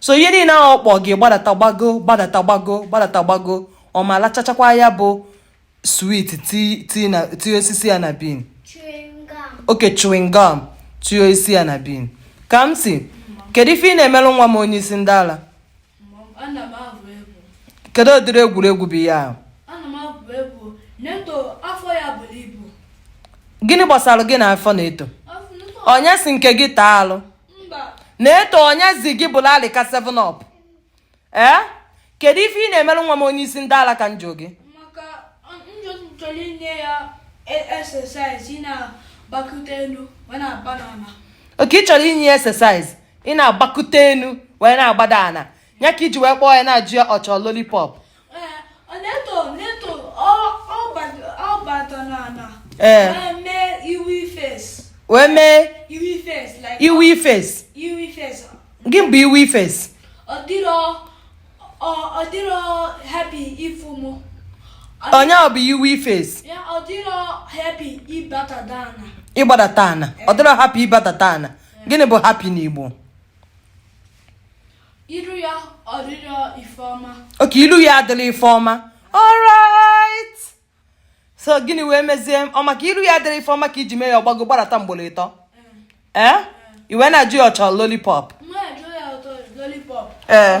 so ihe niile ahụ ọ kpọ gị gbadata gbago gbadata gbago gbadata gbago ọ ma lachachakwa ya bụ swit tinye osisi ya na bin okay chewing gum tinye osisi ya na bin ka m sị kedu ife ị na-emelu nwa m onye isi ndị ala kedu ụdịrị egwuregwu bụ ihe ahụ gịnị gbasara gị na afọ neto onye sị nke gị taa arụ neto onye sị gị bụlụ alịka 7 up ee kedu ife ị na-emelu nwa m onye isi ndị ala ka m jụọ gị okay ị chọrọ inye ya exercise ị na-agbakute enu wee na-agbada ana ya ka i ji wee kpọọ ya na-ajụ ya ọ chọ lollipop ee wee mee iwe face gị bụ iwe face ọ ya bụ iwe face ịgbadata ana ọ dịrọ happy ịgbadata ana gịnị bụ happy n'igbo iru ya ọ dịrọ ife ọma okay iru ya adịrọ ife ọma alright so gịnị wee mezie ọ maka iru ya adịrọ ife ọma ka i ji mee ya ọ gbago gbadata ugboro ịtọ ee eh? eh? i wee na-ajụ ya ọ chọ lollipop ee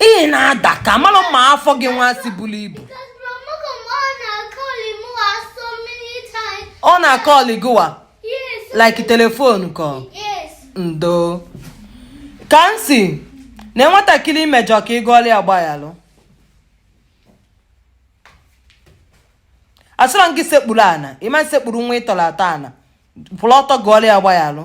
ị na-ada ka mara ma afọ gị nwa si buru ibu ọ na-acall gịwa like telephone call ndo ka m sị na nwatakịrị i mejọ ka ị gụọla ya gbaghalụ asịrọ gị sekpuru ana ị ma sekpuru nwa ị tọrọ atọ ana kwụrụ ọtọ gụọla ya gbaghalụ